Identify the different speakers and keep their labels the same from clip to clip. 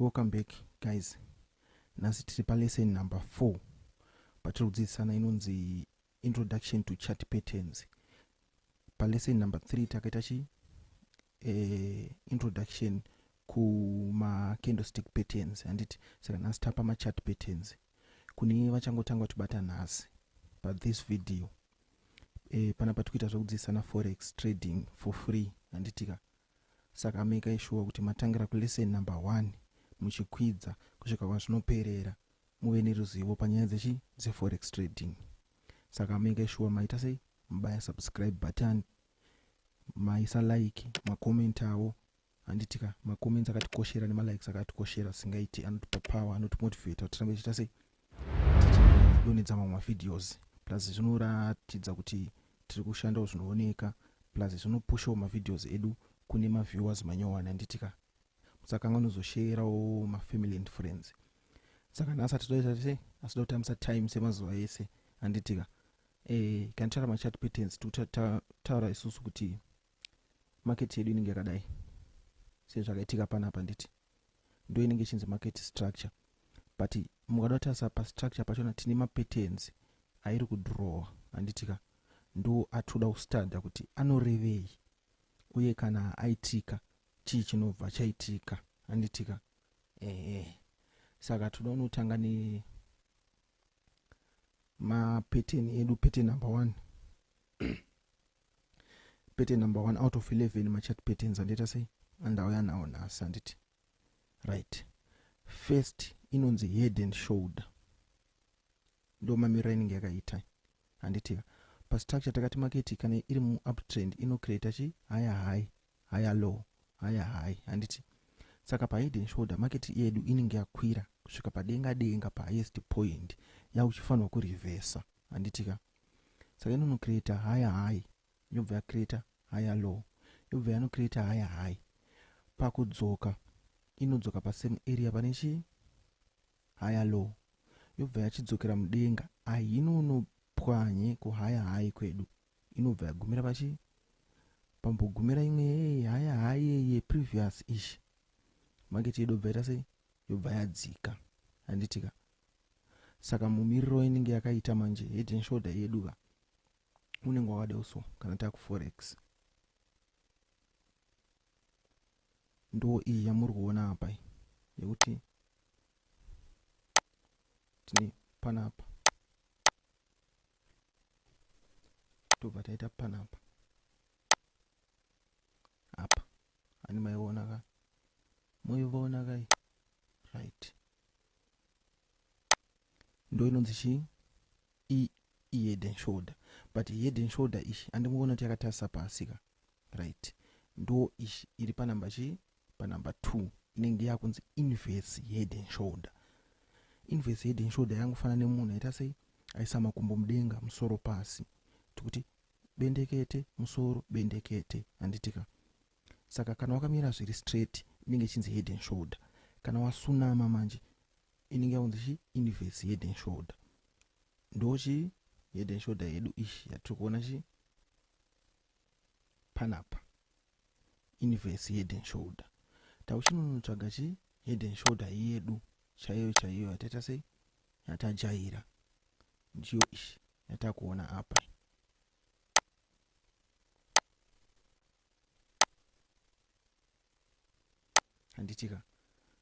Speaker 1: welcome back guys nhasi tiri palesson number four patiri kudzidzisana inonzi introduction to chat patterns palesson number three takaita chi eh, introduction kumacandlestick patterns handiti saka nhasi tapa machat patterns kune vachangotanga kutibata nhasi but this video e, pana patikuita zvekudzidzisana forex trading for free handitika saka ameka ishuwa kuti matangira kulesson number one muchikwidza kusvika kwazvinoperera muve neruzivo panyaya dzechi dzeforex trading saka ameka ishuwa maita sei mubaya subscribe button maisa like makomentawo handitika macomments akatikoshera nemalikes akatikoshera singaiti anotipa power anotimotivata kuti tirambe tichiita sei tichidonedza mamwe mavideos plus zvinoratidza kuti tiri kushandawo zvinooneka plus zvinopushawo mavideos edu kune maviewers manyowani handitika musakanga unozosheyerawo mafamily and friends saka nhasi atidoita tese asi da kutambisa time semazuva ese handitika e, eh, kanitara machat patterns tokutaura isusu kuti market yedu inenge yakadai sezvakaitika panapa nditi ndo inenge ichinzi market structure but mukada kutarisa pastructure pachona tine mapatterns airi kudrowa handitika ndo atinoda kustadha kuti anorevei uye kana aitika chii chinobva chaitika handitika ehe saka tinoda unotanga ne mapattern edu pattern number one pattern number one out of 11 machat patterns andiita sei andauya nawo nhasi handiti right first inonzi head and shoulder ndo mamirira inenge yakaita handitika pastructure takati maketi kana iri muuptrend inocreata chi haya high haya low haya high handiti saka pahead and shoulder maketi yedu inenge yakwira kusvika padenga denga pahighest point yauchifanirwa kurevesa handitika ya saka inono creator higher high yobva yacreator higher low yobva yano creator higher high pakudzoka inodzoka pasame area pane chii higher low yobva yachidzokera mudenga ahinono pwanye kuhigher high kwedu inobva yagumira pachii pambogumira imwe haya hayeye previous ish market yedu bva ita sei yobva yadzika handitika saka mumiriro inenge yakaita manje head and shoulder yedu ka unenge wakadeo so kana takuforex ndo iyi yamuri kuona apa yekuti tine panapa tobva taita panapa ani maiona ka moivaona kai right ndo inonzi chii ihead and shoulder but head and shoulder ichi andingoona kuti yakatarisa pasi ka right ndo ichi iri panumber chii panumber two inenge yakunzi inverse head and shoulder inverse head and shoulder yangofana nemunhu aita sei aisa makumbo mudenga musoro pasi tikuti bendekete musoro bendekete handitika saka kana wakamira zviri straight inenge ichinzi head and shoulder kana wasunama manje inenge yaunzi chi inverse head and shoulder ndochi head and shoulder yedu ishi yatiri kuona chi panapa inverse head and shoulder tauchinonotsvaga chi head and shoulder yedu chaiyo chaiyo yataita sei yatajaira ndiyo ishi yatakuona apa handitika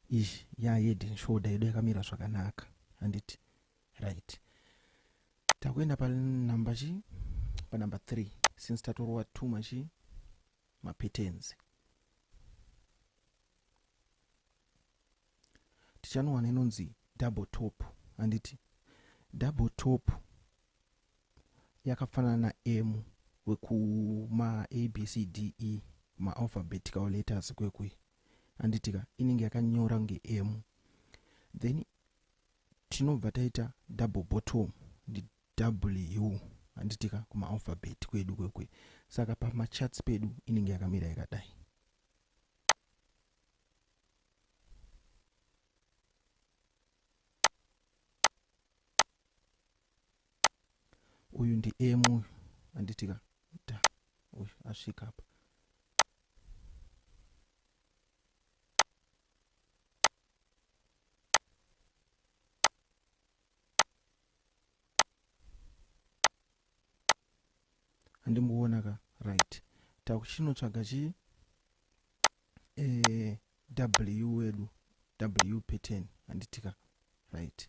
Speaker 1: ish ya head and shoulder yedu yakamira zvakanaka handiti right takuenda panumber chi panumber three since tatorova two machi mapatenzi tichanowana inonzi double top handiti double top yakafanana naM wekuma ABCDE ma alphabetical letters kwekwe handitika inenge yakanyora kunge M then tinobva taita double bottom ndi W handitika kuma alphabet kwedu kwekwe saka pamachats pedu inenge yakamira yakadai uyu ndi m uyu handiti ka da uyu asvika apa andimboona ka right takuchinotsvaga chi eh, w wedu w pattern anditika right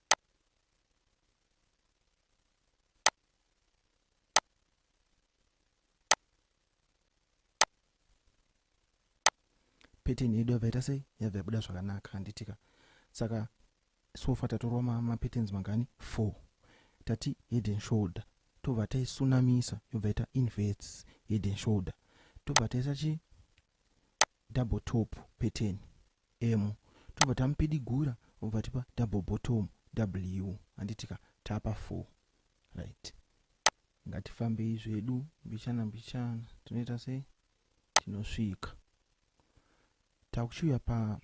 Speaker 1: pattern yedu yabva ita sei yabva yabuda zvakanaka handitika saka sofa tatorwa mapatterns mangani four tati head and shoulder tobva taisunamisa yobva ita inverts head and shoulder tobva taisa chi double top pattern emu tobva tamupidigura obva tipa double bottom w handiti ka tapa four right ngatifambei zvedu mbichana mbichana tinoita sei tinosvika takuchiuya pa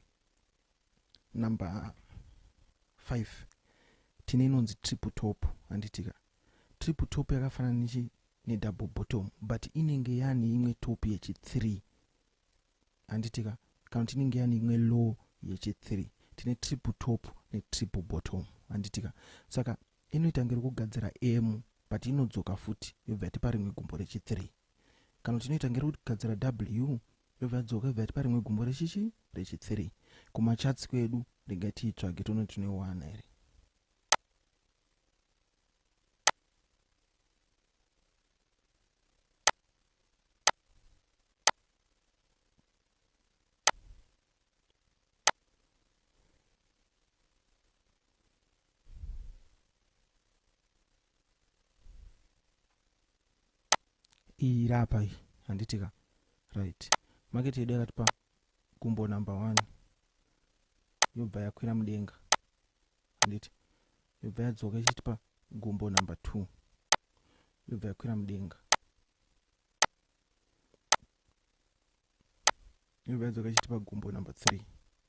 Speaker 1: number five tine inonzi triple top handitika triple top yakafanana nechi nedouble bottom but inenge yane imwe top yechithree handitika kana kuti inenge yani imwe low yechi 3 tine triple top ne triple bottom handitika saka inoita ngero kugadzira m but inodzoka futi yobva yatipa rimwe gumbo rechi 3 kana kuti inoita ngero kugadzira w yobva yadzoka yobva yatipa rimwe gumbo rechichi rechi 3 kumachatsi kwedu ndinga tiitsvage toona kuti tinoiwana here iyi iri apa iyi handitika right market yedu yakatipa gumbo number one yobva yakwira mudenga handiti yobva yadzoka ichitipa gumbo number two yobva yakwira mudenga ndobva yadzoka ichitipa gumbo number three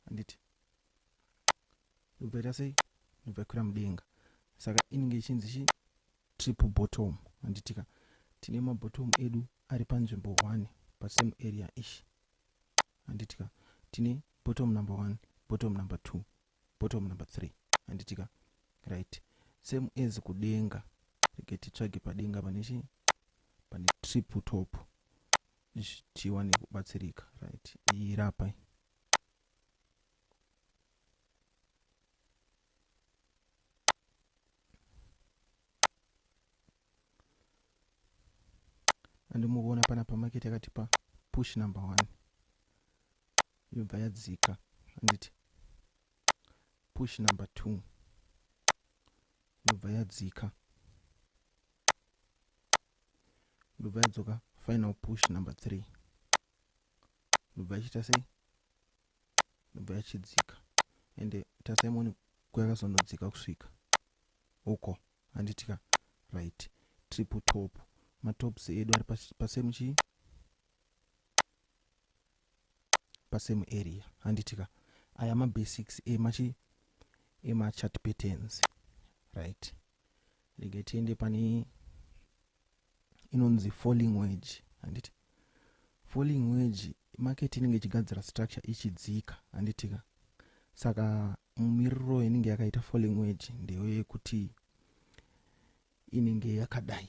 Speaker 1: handiti ndobva ita sei ndobva yakwira mudenga saka inenge ichinzi chi triple bottom handitika tine mabottom edu ari panzvimbo one pasame area ish handitika tine bottom number one bottom number two bottom number 3 handitika right same as kudenga rege titsvage padenga pane chi pane triple top tiwane kubatsirika right iyi rapa andimukuona pana pamaketi akatipa push number one yobva yadzika handiti push number 2 yobva yadzika yobva yadzoka final push number 3 yobva yachiita sei yobva yachidzika ende tasaimoni kwayakazonodzika kusvika uko handitika right triple top matops edu ari pasame chii pasame area handiti ka aya mabasics emachi emachat patterns right rege tiende pane inonzi falling wage handiti falling wage market inenge ichigadzira structure ichidzika handiti ka saka mumiriro inenge yakaita falling wage ndeyo yekuti inenge yakadai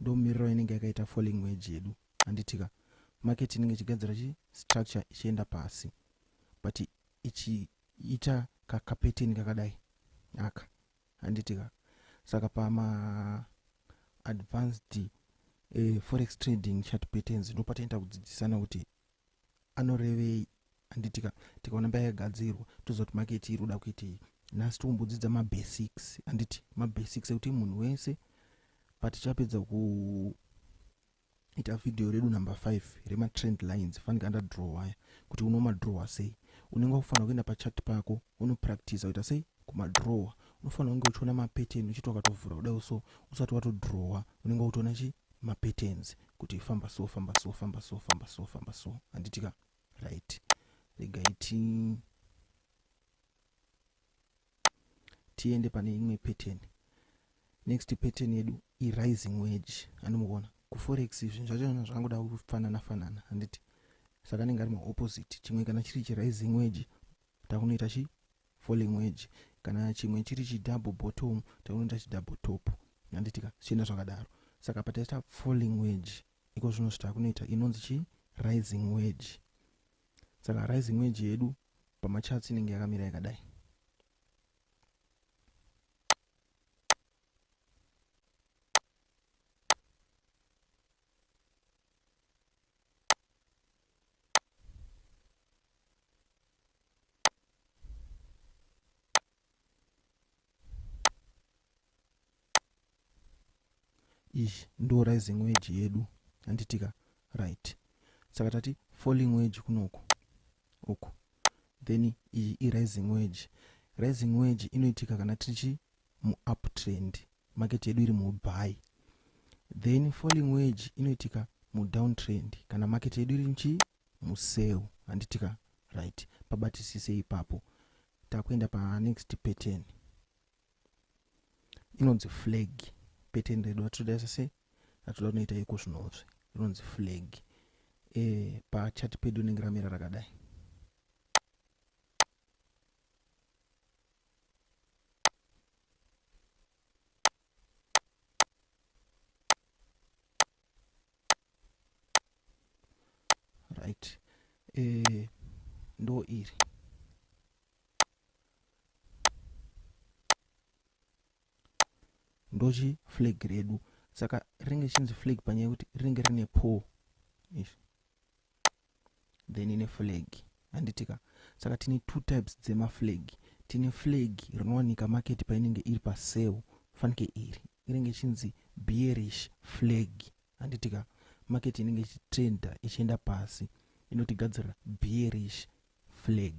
Speaker 1: ndomiriro inenge yakaita falling wage yedu handitika market inenge ichigadzira chi structure ichienda pasi but ichiita kakapeteni kakadai aka handitika saka pama advanced uh, forex trading chat patterns ndopataita kudzidzisana kuti anorevei handitika tikaona mbaya yagadzirwa tozoti maketi iri kuda kuitei nhasi tikumbodzidza mabasics handiti mabasics ekuti munhu wese patichapedza kuita vhidhiyo redu number five rematrend lines fanike andadrow waya kuti unomadrowa sei unenge wakufanira kuenda pachat pako unopractisa kuita sei kumadrowa unofanira kunge uchiona mapattern uchiti wakatovhura kudai so usati watodrowa unenge wakutoona chii mapatterns kuti famba so famba so famba so famba so famba so handiti ka right regai ti tiende pane imwe pattern next pattern yedu irising wage andimukuona kuforex izvi zvachona zvakangoda kufanana fanana handiti saka anenge ari maopposite chimwe kana chiri chirising wage takunoita chi for language kana chimwe chiri chi double bottom taunoita chi double top handitika zvichienda zvakadaro saka pataita falling wage iko zvino zvitakunoita inonzi chi rising wage saka rising wage yedu pamachatsi inenge yakamira yakadai iyi ndo rising wage yedu handitika right saka tati falling wage kunoku uku then iyi irising wage rising wage inoitika kana tichi muuptrend market yedu iri mubuy then falling wage inoitika mudowntrend kana market yedu iri nchi musell handitika right pabatisise ipapo takuenda panext pattern inonzi flag pattern redu atoda sese atoda kunoita iko zvinozve rinonzi flag e, eh, pachati pedu rinenge ramira rakadai right eh, ndo iri ndochi flag redu saka rinenge chinzi flag panyaya yekuti rinenge rine pole izvi then ine flag handitika saka tine two types dzemaflag tine flag rinowanika market painenge iri pasale fanike iri inenge ichinzi bearish flag handitika market inenge ichitrenda ichienda pasi inotigadzirira bearish flag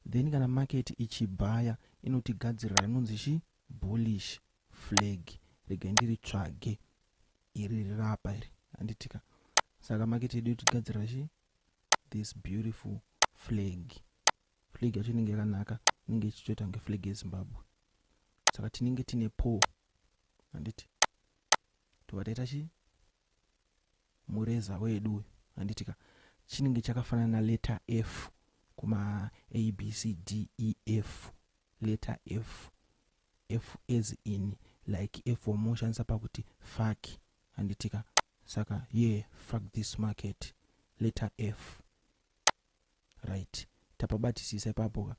Speaker 1: then kana market ichibhaya inotigadzirira inonzi chi bullish flag regai ndiritsvage iri rirapa iri handitika saka market yedu tigadzira chi this beautiful flag flag yacho inenge yakanaka inenge ichitoita kunge flag yezimbabwe saka tinenge tine po handiti tobva taita chii mureza wedu uyu handiti ka chinenge chakafanana na letter f kuma a b c d e f letter f f as in like f wamunoshandisa pakuti fak handiti ka saka ye yeah, fak this market letter f right tapabatisisa ipapo ka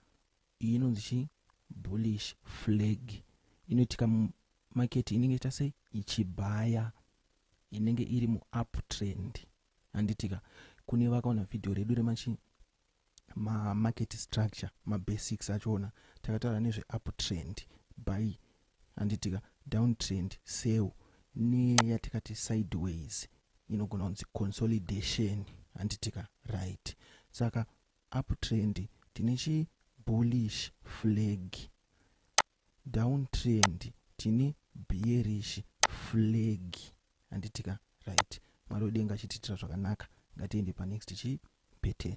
Speaker 1: iyi inonzi chii bullish flag inoitika mumaketi inenge iita sei ichibhaya inenge iri muuptrend handitika kune vakaona vhidhiyo redu remachii mamarket structure mabasics achoona takataura nezveuptrend by handitika downtrend sell neyatikati sideways inogona kunzi consolidation handitika right saka uptrend tine chi bullish flag downtrend tine bearish flag handitika right mwari wedenga achitiitira zvakanaka ngatiende panext chi pattern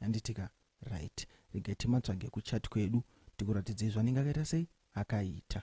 Speaker 1: Handitika right regai timatsvage kuchat kwedu tikuratidzei zvanenge akaita sei akaita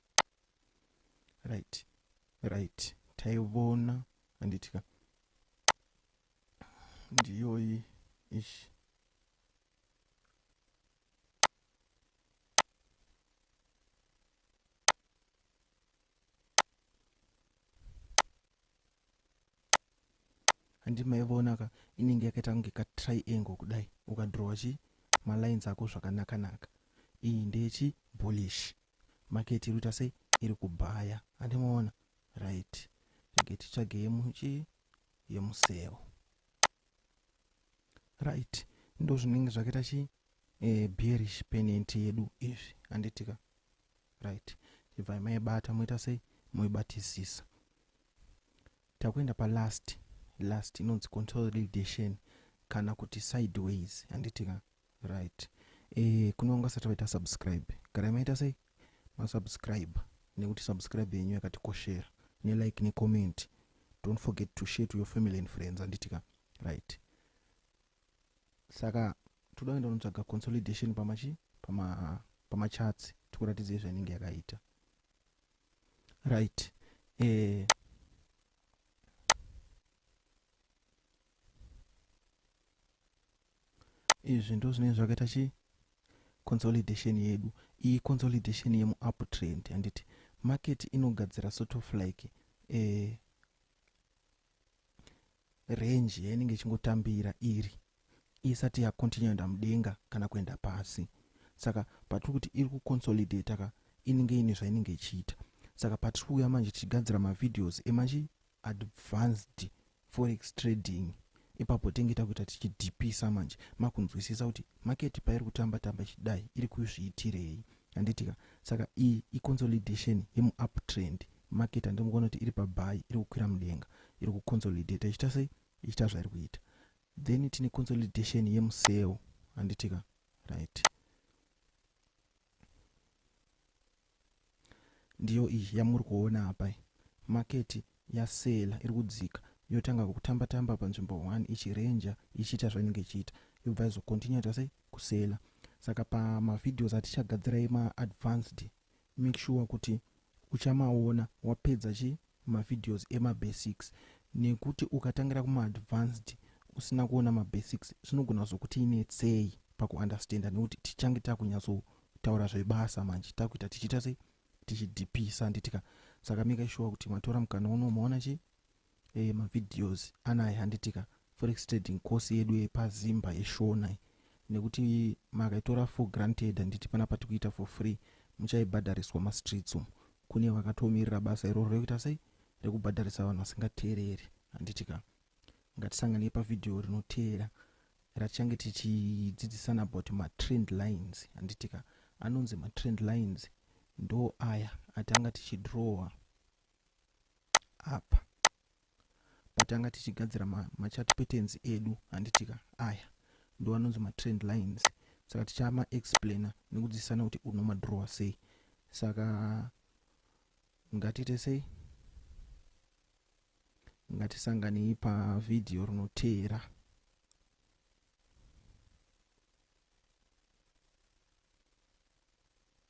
Speaker 1: right right taivona handitika ndiyoyi ishi handi maivona ka inenge yakaita kunge ka triangle kudai ukadrowa chi malines ako zvakanakanaka iyi ndechi bullish market iri kuita sei iri kubhaya andimuona right rege titsvage yemuchi yemuseo right ndo zvinenge zvakaita chi eh, bearish penent yedu izvi anditika right ibvai maibata moita sei moibatisisa takuenda palast last inonzi consolidation kana kuti sideways anditika right eh kune vanga vasati vaita subscribe garai maita sei masubscribe nekuti subscribe yenyu yakatikoshera nelike necomment don't forget to share to your family and friends anditika right saka toda kuenda unotsvaga consolidation pamachi pamachatsi pama tikuratidza izvainenge yakaita right eh, izvi ndo zvinenge zvakaita chi consolidation yedu iyi consolidation yemuuptrend handiti market inogadzira sort of like eh, range yainenge ichingotambira iri isati yacontinue enda mudenga kana kuenda pasi saka patiri kuti iri kuconsolidate ka inenge ine zvainenge ichiita saka patiri kuuya manje tichigadzira mavideos emachi advanced forex trading ipapo tenge takuita tichidhipisa manje makunzwisisa kuti maketi pairi kutamba tamba ichidai iri kuzviitirei handitika saka iyi iconsolidation yemuup trend maketi handiri kuona kuti iri pabhayi iri kukwira mudenga iri kuconsolidata ichita sei ichita zvairi kuita then tine consolidation yemuseo handitika right Ndiyo iyi yamuri kuona apa iyi. Market yaseller iri kudzika yotanga kutamba tamba panzvimbo one ichi ranger ichiita zvainenge ichiita yobva yazo continue yaita sei kuseller. Saka pama videos atichagadzira ema advanced make sure kuti uchamaona wapedza chii mavideos emabasics nekuti ukatangira kumaadvanced usina kuona mabasics zvinogona kuzokuti netsei pakuunderstander nekuti tichange takunyatsotaura zvebasa manje takuita tichiita sei tichidhipisa handitika saka make sure kuti matora mukana uno umaona chi e, mavideos anaye handitika forex trading course yedu yepazimba yeshona nekuti makaitora for granted handiti pana patikuita for free muchaibhadhariswa mastreets umu Kune vakatomirira basa iroro rekuita sei? Rekubhadharisa vanhu vasingateereri, handiti ka? Ngatisanganei pavhidhiyo rinoteera ratichange tichidzidzisana about matrend lines, handiti ka? Anonzi matrend lines ndo aya atanga tichidrowa apa. patanga tichigadzira machat patterns edu handitika aya ndo anonzi matrend lines saka tichama explainer nekudzidzisana kuti unomadrowa sei saka ngatiite sei ngatisanganei pavhidhiyo rinoteera